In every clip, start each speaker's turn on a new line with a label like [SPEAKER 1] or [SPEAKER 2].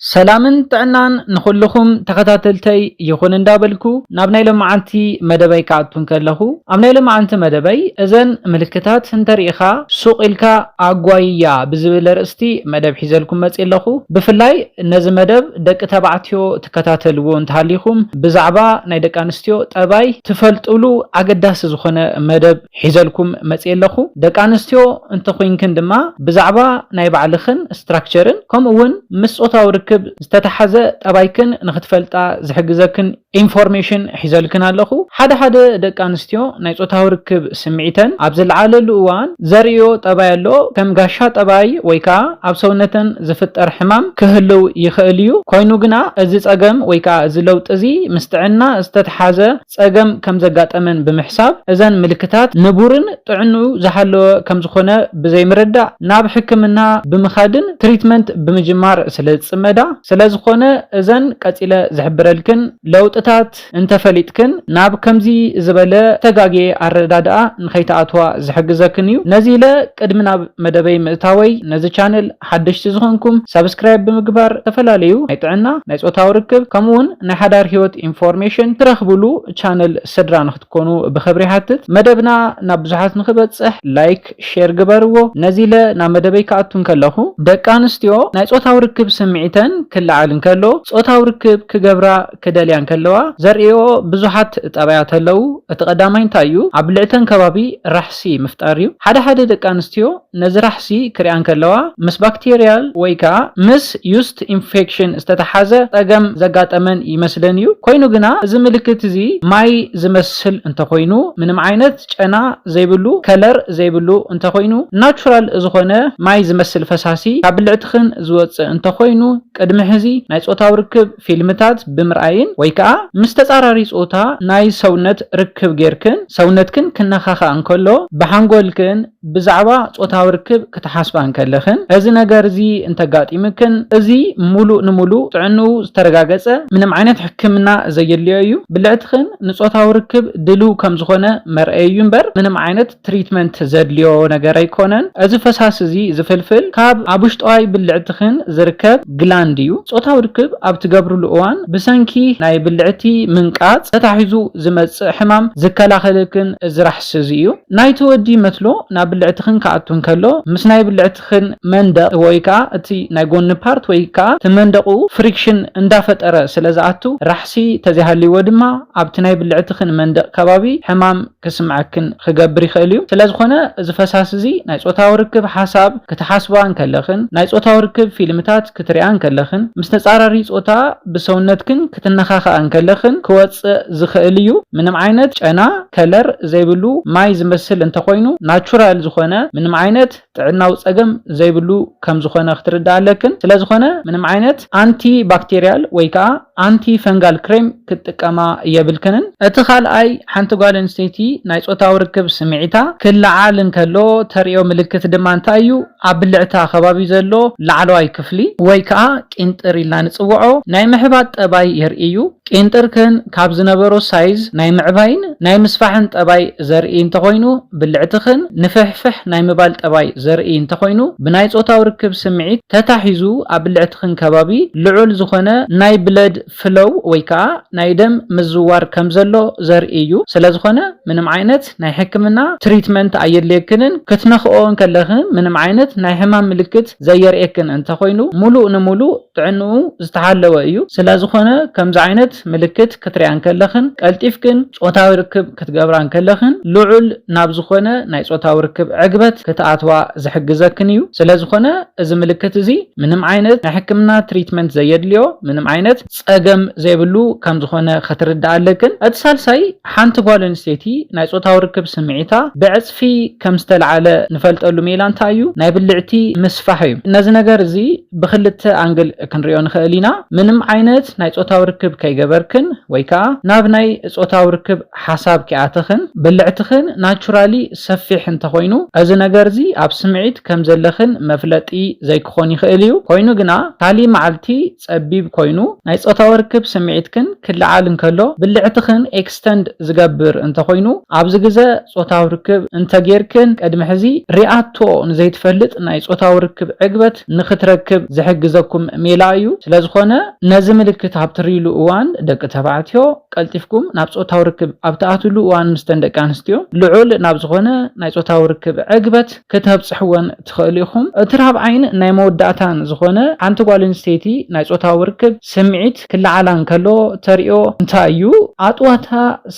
[SPEAKER 1] ሰላምን ጥዕናን ንኹሉኹም ተኸታተልተይ ይኹን እንዳበልኩ ናብ ናይ ሎምዓንቲ መደበይ ክኣቱ እንከለኹ ኣብ ናይ ሎምዓንቲ መደበይ እዘን ምልክታት እንተሪኢኻ ሱቕ ኢልካ ኣጓይያ ብዝብል ኣርእስቲ መደብ ሒዘልኩም መፅየ ኣለኹ ብፍላይ ነዚ መደብ ደቂ ተባዕትዮ ትከታተልዎ እንተሃሊኹም ብዛዕባ ናይ ደቂ ኣንስትዮ ጠባይ ትፈልጥሉ ኣገዳሲ ዝኾነ መደብ ሒዘልኩም መጽየ ኣለኹ። ደቂ ኣንስትዮ እንተ ኹይንክን ድማ ብዛዕባ ናይ ባዕልኽን ስትራክቸርን ከምኡ ውን ምስ ጾታዊ ርክብ ዝተታሓዘ ጠባይክን ንኽትፈልጣ ዝሕግዘክን ኢንፎርሜሽን ሒዘልክን ኣለኹ። ሓደ ሓደ ደቂ ኣንስትዮ ናይ ጾታዊ ርክብ ስምዒተን ኣብ ዝልዓለሉ እዋን ዘርእይኦ ጠባይ ኣሎ። ከም ጋሻ ጠባይ ወይ ከኣ ኣብ ሰውነተን ዝፍጠር ሕማም ክህልው ይኽእል እዩ። ኮይኑ ግና እዚ ጸገም ወይ ከኣ እዚ ለውጢ እዚ ምስ ጥዕና ዝተትሓዘ ጸገም ከም ዘጋጠመን ብምሕሳብ፣ እዘን ምልክታት ንቡርን ጥዕንኡ ዝሓለወ ከም ዝኾነ ብዘይምርዳእ ናብ ሕክምና ብምኻድን ትሪትመንት ብምጅማር ስለ ዝጽመዳ፣ ስለ ዝኾነ እዘን ቀጺለ ዝሕብረልክን ለውጥታት እንተፈሊጥክን ናብ ከምዚ ዝበለ ዝተጋግየ ኣረዳድኣ ንኸይትኣትዋ ዝሕግዘክን እዩ። ነዚለ ቅድሚ ናብ መደበይ ምእታወይ ነዚ ቻነል። ሓደሽቲ ዝኾንኩም ሳብስክራይብ ብምግባር ዝተፈላለዩ ናይ ጥዕና፣ ናይ ፆታዊ ርክብ ከምኡ ውን ናይ ሓዳር ሂወት ኢንፎርሜሽን ትረኽብሉ ቻነል ስድራ ንክትኮኑ ብኽብሪ ይሓትት። መደብና ናብ ብዙሓት ንክበፅሕ ላይክ ሼር ግበርዎ። ነዚለ ናብ መደበይ ክኣቱ እንከለኹ ደቂ ኣንስትዮ ናይ ፆታዊ ርክብ ስምዒተን ክለዓል እንከሎ ፆታዊ ርክብ ክገብራ ክደልያ እንከለዋ ዘርእይኦ ብዙሓት ጠባያት ኣለዉ። እቲ ቀዳማይ እንታይ እዩ? ኣብ ልዕተን ከባቢ ራሕሲ ምፍጣር እዩ። ሓደ ሓደ ደቂ ኣንስትዮ ነዚ ራሕሲ ክሪኣ እንከለዋ ምስ ባክቴርያል ወይ ከኣ ምስ ዩስት ኢንፌክሽን ዝተተሓዘ ጸገም ዘጋጠመን ይመስለን እዩ። ኮይኑ ግና እዚ ምልክት እዚ ማይ ዝመስል እንተኾይኑ ምንም ዓይነት ጨና ዘይብሉ ከለር ዘይብሉ እንተኾይኑ ናቹራል ዝኾነ ማይ ዝመስል ፈሳሲ ካብ ብልዕትኽን ዝወጽእ እንተኾይኑ ቅድሚ ሕዚ ናይ ጾታዊ ርክብ ፊልምታት ብምርኣይን ወይ ከኣ ምስ ተጻራሪ ጾታ ናይ ሰውነት ርክብ ጌርክን ሰውነትክን ክነኻኻእ እንከሎ ብሓንጎልክን ብዛዕባ ጾታዊ ርክብ ክትሓስባ እንከለኽን እዚ ነገር እዚ እንተጋጢምክን እዚ ምሉእ ንምሉእ ጥዕንኡ ዝተረጋገጸ ምንም ዓይነት ሕክምና ዘየድልዮ እዩ። ብልዕትኽን ንጾታዊ ርክብ ድልው ከም ዝኾነ መርኣዪ እዩ እምበር ምንም ዓይነት ትሪትመንት ዘድልዮ ነገር ኣይኮነን። እዚ ፈሳሲ እዚ ዝፍልፍል ካብ ኣብ ውሽጠዋይ ብልዕትኽን ዝርከብ ግላንድ እዩ። ፆታዊ ርክብ ኣብ ትገብርሉ እዋን ብሰንኪ ናይ ብልዕቲ ምንቃፅ ተታሒዙ ዝመፅእ ሕማም ዝከላኸለልክን እዚ ራሕሲ እዚ እዩ። ናይቲ ወዲ መትሎ ናብ ብልዕትኽን ክኣቱ እንከሎ ምስ ናይ ብልዕትኽን መንደቕ ወይ ከዓ እቲ ናይ ጎኒ ፓርት ወይ ከዓ እቲ መንደቑ ፍሪክሽን እንዳፈጠረ ስለዝኣቱ ራሕሲ ተዘይሃልይዎ ድማ ኣብቲ ናይ ብልዕትኽን መንደቕ ከባቢ ሕማም ክስምዐክን ኽገብር ይኽእል እዩ። ስለ ዝኾነ እዚ ፈሳሲ እዚ ናይ ጾታዊ ርክብ ሓሳብ ክትሓስባ እንከለኽን ናይ ጾታዊ ርክብ ፊልምታት ክትሪኣ እንከለኽን ምስ ተጻራሪ ጾታ ብሰውነትክን ክትነኻኽኣ እንከለኽን ክወጽእ ዝኽእል እዩ። ምንም ዓይነት ጨና፣ ከለር፣ ዘይብሉ ማይ ዝመስል እንተኾይኑ ናቹራል ዝኾነ ምንም ዓይነት። ጥዕናዊ ጸገም ዘይብሉ ከም ዝኾነ ክትርድኣ ኣለክን። ስለ ዝኾነ ምንም ዓይነት ኣንቲ ባክቴርያል ወይ ከኣ ኣንቲ ፈንጋል ክሬም ክትጥቀማ የብልክንን። እቲ ካልኣይ ሓንቲ ጓል ኣንስተይቲ ናይ ጾታዊ ርክብ ስምዒታ ክለዓል እንከሎ ተርእዮ ምልክት ድማ እንታይ እዩ? ኣብ ብልዕታ ከባቢ ዘሎ ላዕለዋይ ክፍሊ ወይ ከኣ ቂንጥር ኢልና ንጽውዖ ናይ ምሕባጥ ጠባይ የርእይ እዩ። ቄንጠርከን ካብ ዝነበሮ ሳይዝ ናይ ምዕባይን ናይ ምስፋሕን ጠባይ ዘርኢ እንተኾይኑ፣ ብልዕትኽን ንፍሕፍሕ ናይ ምባል ጠባይ ዘርኢ እንተኾይኑ፣ ብናይ ጾታዊ ርክብ ስምዒት ተታሒዙ ኣብ ብልዕትኽን ከባቢ ልዑል ዝኾነ ናይ ብለድ ፍሎው ወይ ከኣ ናይ ደም ምዝዋር ከም ዘሎ ዘርኢ እዩ። ስለ ዝኾነ ምንም ዓይነት ናይ ሕክምና ትሪትመንት ኣየድልየክንን። ክትነኽኦ እንከለኽን ምንም ዓይነት ናይ ሕማም ምልክት ዘየርእየክን እንተኾይኑ፣ ሙሉእ ንሙሉእ። ጥዕንኡ ዝተሓለወ እዩ፣ ስለዝኾነ ከምዚ ዓይነት ምልክት ክትሪኣ እንከለኽን ቀልጢፍክን ጾታዊ ርክብ ክትገብራ እንከለኽን ልዑል ናብ ዝኾነ ናይ ጾታዊ ርክብ ዕግበት ክትኣትዋ ዝሕግዘክን እዩ፣ ስለዝኾነ እዚ ምልክት እዚ ምንም ዓይነት ናይ ሕክምና ትሪትመንት ዘየድልዮ ምንም ዓይነት ጸገም ዘይብሉ ከምዝኾነ ከትርድኣ ኣለክን። እቲ ሳልሳይ ሓንቲ ጓል ኣንስተይቲ ናይ ጾታዊ ርክብ ስምዒታ ብዕጽፊ። ሰልፊ ከም ዝተልዓለ ንፈልጠሉ ሜላ እንታይ እዩ? ናይ ብልዕቲ ምስፋሕ እዩ። ነዚ ነገር እዚ ብኽልተ ኣንግል ክንሪኦ ንኽእል ኢና። ምንም ዓይነት ናይ ጾታዊ ርክብ ከይገበርክን ወይ ከኣ ናብ ናይ ጾታዊ ርክብ ሓሳብ ከይኣተኽን ብልዕትኽን ናቹራሊ ሰፊሕ እንተኾይኑ እዚ ነገር እዚ ኣብ ስምዒት ከም ዘለኽን መፍለጢ ዘይክኾን ይኽእል እዩ። ኮይኑ ግና ካሊእ መዓልቲ ጸቢብ ኮይኑ፣ ናይ ጾታዊ ርክብ ስምዒትክን ክለዓል እንከሎ ብልዕትኽን ኤክስተንድ ዝገብር እንተኾይኑ፣ ኣብዚ ግዘ ጾታዊ ርክብ እንተጌርክን ቅድሚ ሕዚ ሪኣቶ ንዘይትፈልጥ ናይ ጾታዊ ርክብ ዕግበት ንኽትረክብ ዝሕግዘኩም ሜላ እዩ። ስለዝኾነ ነዚ ምልክት ኣብ ትሪእሉ እዋን ደቂ ተባዕትዮ ቀልጢፍኩም ናብ ጾታዊ ርክብ ኣብ ትኣትውሉ እዋን ምስተን ደቂ ኣንስትዮ ልዑል ናብ ዝኾነ ናይ ጾታዊ ርክብ ዕግበት ከተብጽሕወን ትኽእሉ ኢኹም። እቲ ራብዓይን ናይ መወዳእታን ዝኾነ፣ ሓንቲ ጓል ኣንስተይቲ ናይ ጾታዊ ርክብ ስምዒት ክለዓላ እንከሎ ተርእዮ እንታይ እዩ? ኣጥዋታ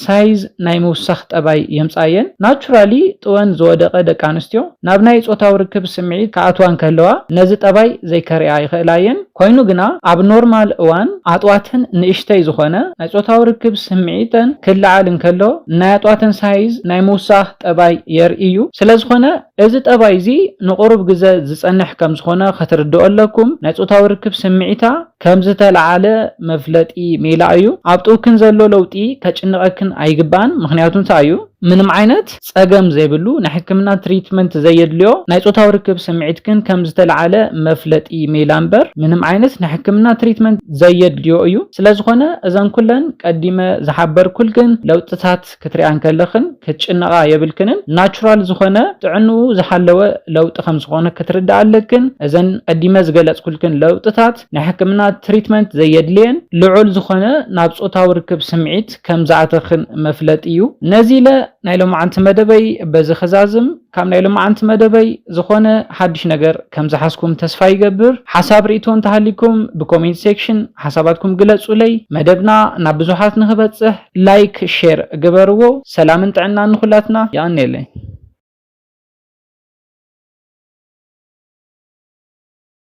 [SPEAKER 1] ሳይዝ ናይ ምውሳኽ ጠባይ የምጽኣየን። ናቹራሊ ጥወን ዝወደቐ ደቂ ኣንስትዮ ናብ ናይ ጾታዊ ርክብ ስምዒት ክኣትዋ እንከለዋ ነዚ ጠባይ ዘይከርእያ ይኽእላ እየን። ኮይኑ ግና ኣብ ኖርማል እዋን ኣጥዋተን ንእሽተይ ዝኾነ፣ ናይ ጾታዊ ርክብ ስምዒተን ክለዓል እንከሎ ናይ ኣጥዋተን ሳይዝ ናይ ምውሳኽ ጠባይ የርእይ እዩ። ስለዝኾነ እዚ ጠባይ እዚ ንቑሩብ ግዘ ዝፀንሕ ከምዝኾነ ክትርድኦ ኣለኩም። ናይ ፆታዊ ርክብ ስምዒታ ከምዝተልዓለ መፍለጢ ሜላ እዩ። ኣብ ጥውክን ዘሎ ለውጢ ከጭንቐክን ኣይግባእን ምኽንያቱ እንታይ እዩ? ምንም ዓይነት ፀገም ዘይብሉ ናይ ሕክምና ትሪትመንት ዘየድልዮ ናይ ፆታዊ ርክብ ስምዒትክን ከምዝተልዓለ መፍለጢ ሜላ እምበር ምንም ዓይነት ናይ ሕክምና ትሪትመንት ዘየድልዮ እዩ። ስለዝኾነ እዘን ኩለን ቀዲመ ዝሓበርኩልክን ለውጥታት ክትሪኣን ከለኽን ክትጭነቓ የብልክንን ናቹራል ዝኾነ ጥዕንኡ ዝሓለወ ለውጢ ከም ዝኾነ ክትርድኣ ኣለክን። እዘን ቀዲመ ዝገለጽኩልክን ለውጥታት ናይ ሕክምና ትሪትመንት ዘየድልየን ልዑል ዝኾነ ናብ ጾታዊ ርክብ ስምዒት ከም ዝኣተኽን መፍለጢ እዩ። ነዚ ኢለ ናይ ሎምዓንቲ መደበይ በዚ ክዛዝም። ካብ ናይ ልማዓንቲ መደበይ ዝኾነ ሓድሽ ነገር ከም ዝሓዝኩም ተስፋ ይገብር። ሓሳብ ሪኢቶ እንተሃልይኩም ብኮሜንት ሴክሽን ሓሳባትኩም ግለፁለይ። መደብና ናብ ብዙሓት ንኽበፅሕ ላይክ ሼር ግበርዎ። ሰላምን ጥዕናን ንኹላትና። የቐንየለይ።